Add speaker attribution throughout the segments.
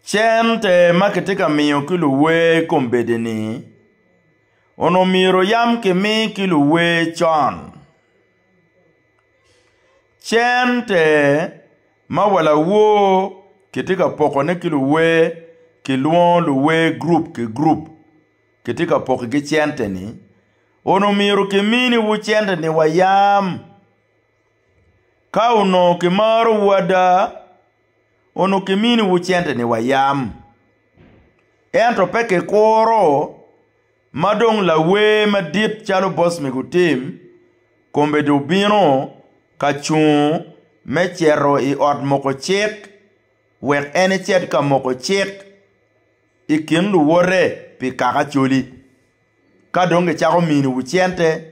Speaker 1: Cente ma kitye ka miyo ki luwer i kom bedeni onongo myero yam kimi ki luwer con. Cente ma wa lawor kitye ka pokone ki luwer kilwongo luwer gurup ki gurup kitye ka pokigi cente-ni onongo myero kiminiwu cente-ni wa yam. Ka onongo kimarowu ada, onongo kiminiwu centeni wa yam. Ento pe kikuro ma dong lawer madit calo boss me gutim kombe dong obino ka cung me cito i ot moko cik wek en ecit ka moko cik i kin luwote pi kaka coli. Ka dong gicako miniwu cente.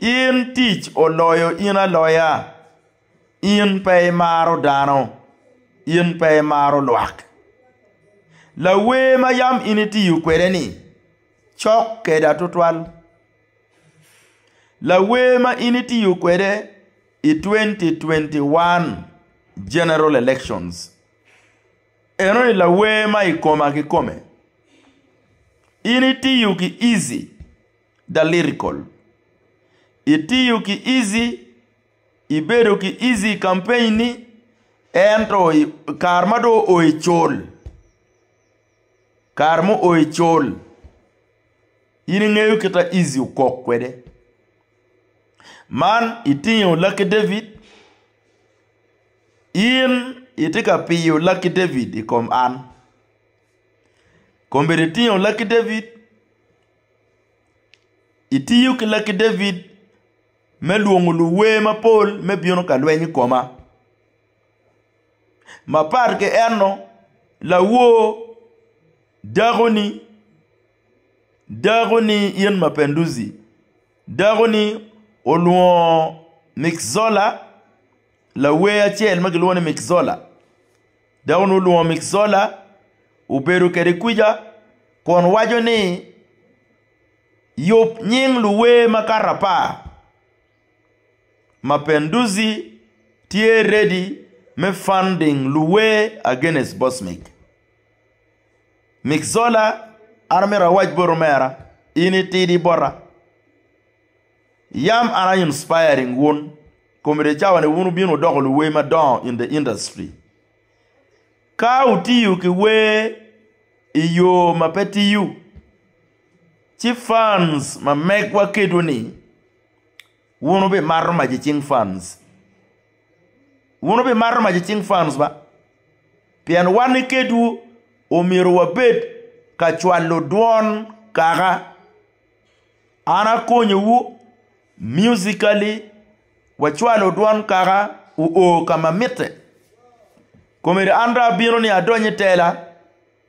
Speaker 1: In tic oloyo in aloya, in pe imaro dano, in pe imaro lwak. Lawer ma yam in itiyo kwede-ni cok keda tutwal. Lawer ma in itiyo kwede i twenty twenty one general elections enoni lawer ma i koma kikome. In itiyo ki Easy. da lyrical. Itiyo ki easy, ibedo ki easy i campaign ni ento i kare ma do oo i col, kare ma oo i col in ingeyo kita easy okok kwede. Man itingo Lucky David, in itye ka piyo Lucky David i kom an. Kombeddi itingo Lucky David. Itiyo ki lakki David me lwongo luwer mapol me bino ka lweny i koma. Mapat ki eno, lawor dakoni, dakoni in Mapenduzi, dakoni olwongo Mick Zola lawer acel ma kilwongo ni Mick Zola. dok onongo olwongo Mick Zola obedo kwede kwica kun waco ni, Yub nying luwer makato apar ma Pendouzi tye ready me funding luwer against Bosmic. Mick Zola an amito awac boti omera in itidi bota. Yam an I inspiring wun, comedy cawa ni wun wubino wudoko luwer madongo in the industry. Ka wutiyo ki wer I yoo ma pe tiyo, ci fans ma megwa kedwu ni wun wubimato mac I cing fans. Wun wubimato mac I cing fans ba, pien wan ki kedwu omyero wabed ka cwalo dwon kaka. An akonyowu musically, wacwalo dwan kaka wuo ka ma mitte. Komere an dong abino ni adony i tela,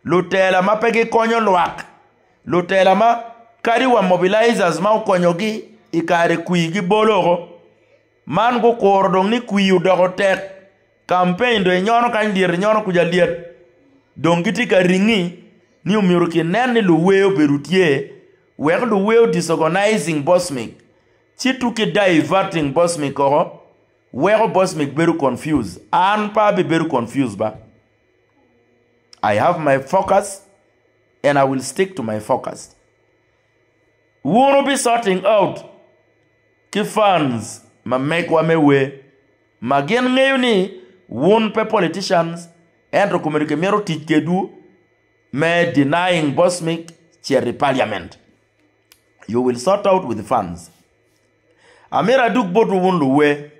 Speaker 1: lutela ma pe gikonyo lwak, lutela ma kadi wa mobilizers ma okonyogi i kare kwir gibolo woko. Man gukuro dong ni kwir odoko tek. Kampeny dong enyono kany lyet enyono kuca lyet dong gitye ka ringi ni omyero kinen ni luwer obedo tye wek luwer o disorganizing Bosmic ci to ki diverting Bosmic koko weko Bosmic bedo confused. An pe abibedo confused ba. I have my focus and I will stick to my focus. Wun wubi sorting out ki fans ma megwa me wer ma gin ngeyo ni wun pe politicians ento komedo ki mito tic kedwu me denying Bosmic cito i parliament. You will sort out with fans. Amito adug botwu wun luwer,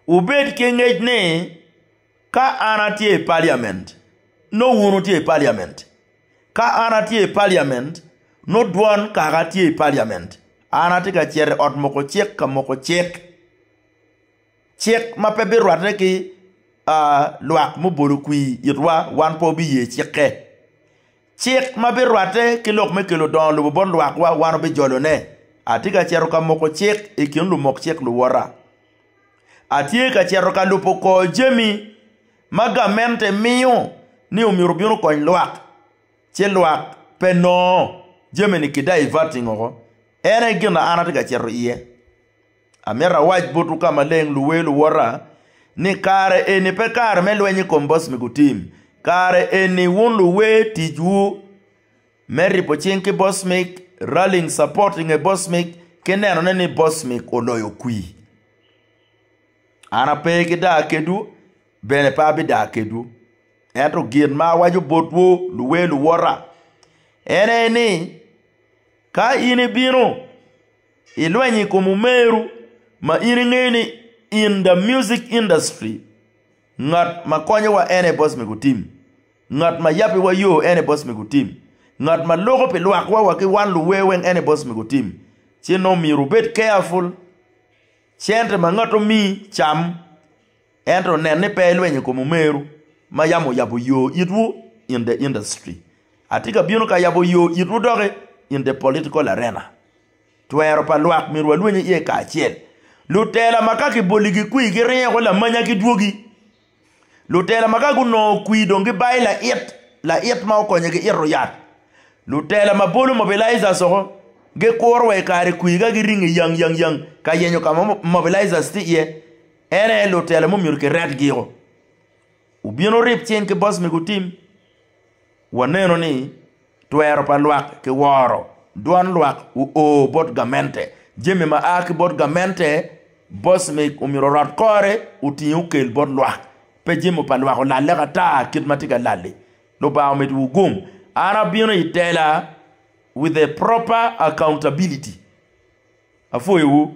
Speaker 1: wubed ki ngec ni. Ka an atye i paliament, nongo wun wutye i paliament. Ka an atye i paliament, nongo dwon Kaka tye i paliament. An atye ka cito i ot moko cik ka moko cik, cik ma pe birwatte ki lwak mubolo kwir itwa, wan pe wabiye cikke. Cik ma birwatte ki lok me kelo dongo lobo bot lwakwa wan wubijolone. Atye ka cito ka moko cik i kin lumok cik luwota. Atye ka cito ka lubo kor jami ma gamente miyo ni omyero obin okony lwak, ci lwak pe nongo jami-ni ki diverting oko. En aye gin ma an atye ka cito iye. Amito awac botwu ka maleng, luwer luwota, ni kare eni pe kare me lweny i kom boc me gutim. Kare eni wun luwer ticwu me ripo cing ki boc mig, rallying support i nge boc mig, ki nenone ni boc mig oloyo kwir. An ape ki daa kedwu, bene pe abidaa kedwu. Ento gin ma awaco botwu luwer luwota en aye ni, ka in ibino. Ilweny i kom omeru ma in ingeyo ni in the music industry ngat ma konyowa en aye boss me gutim, ngat ma yabiwa yo en aye boss me gutim, ngat ma loko pi lwakwa wa ki wan luwer weng en aye boss me gutim ci nongo myero wubed careful cente ma ngat omiyi cam. Ento nen ni pe ilweny i kom omeru ma yam oyabo yo itwu in the industry. Atye ka bino ka yabo yo itwu doki in the political arena. Twero pa lwak myero walweny iye kacel. Lutela ma ka kiboli gikwi giringo ki lamanya ki dwogi. Lutela ma ka gunongo kwi dong gibayo lait, lait ma okonyogi ito yat. Lutela ma bolo mobilizers oko gikuro wa i kare kwi ka giringo i yang yang yang ka yenyo ka ma mobilizers tye iye. En aye lutela ma omyero kiret giko. Wubino wurib cing ki boss mego tim. Waneno ni twero pa lwak ki woro, dwan lwak uo bot gamente. Jami ma a ki bot gamente boss meg omyero orot kore oting okel bot lwak. Pe jami pa lwak olalle ka ta kit ma tye ka lalli. Lubanga omit wu gum. An abino i tela with a proper accountability. Apwoyo wu.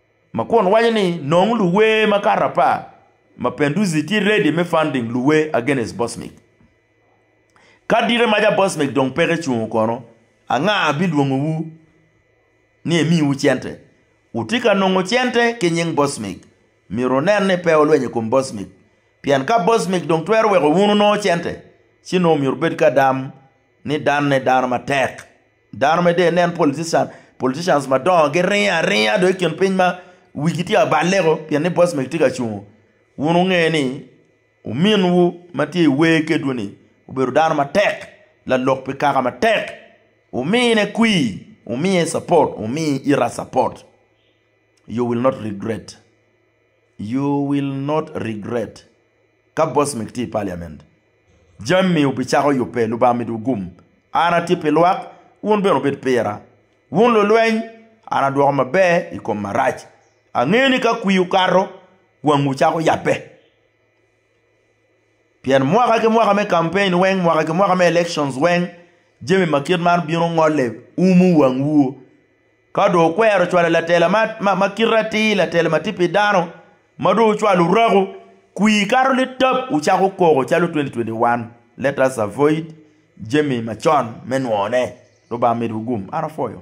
Speaker 1: ma kun waco ni nong luwer makato apar ma Penduzi tye ready me funding luwer against Bosmic. Ka dite maca Bosmic dong peke cungo kono, anga bilwongo wu ni emi wu cente? Wutye ka nongo cente ki nying Bosmic, myero wunen ni pe wulwenyo i kom Bosmic, pien ka Bosmic dong twero weko wun wunongo cente, ci nongo myero wubed ka dam ni danne dano matek. Dano mere dong inen politician, politicians madongo giringo aringa dong i kin piny ma wigi tye ka balle-ku pien ni boss man tye ka cungo. Wun wunge ni ominwu ma tye i wer kedwu-ni obedo dano matek, lalok pi kaka matek, wumine kwir, wumiye cuport, wumi ita cuport, you will not regret, you will not regret. Ka Bosmik tye i paliament, jami obicako yubbe. Lubanga omido wugum. An atye pi lwak, wun bene wubed pira. Wun lulweny, an adwoko maber i kom marac. Angeyo ni ka kwir okato, wangwu cako yabbe. Pien mwaka ki mwaka me campaign weng, mwaka ki mwaka me elections weng, jami ma kit man bino ngole, umo wangwu. Ka dong wukwero cwalo latela ma kite atir, latela ma tye pi dano, ma dong wucwalo orako, kwir kato litap, wucako koko calo 2021, let us avoid jami macon me nwone. Lubanga omedwu gum. An apwoyo.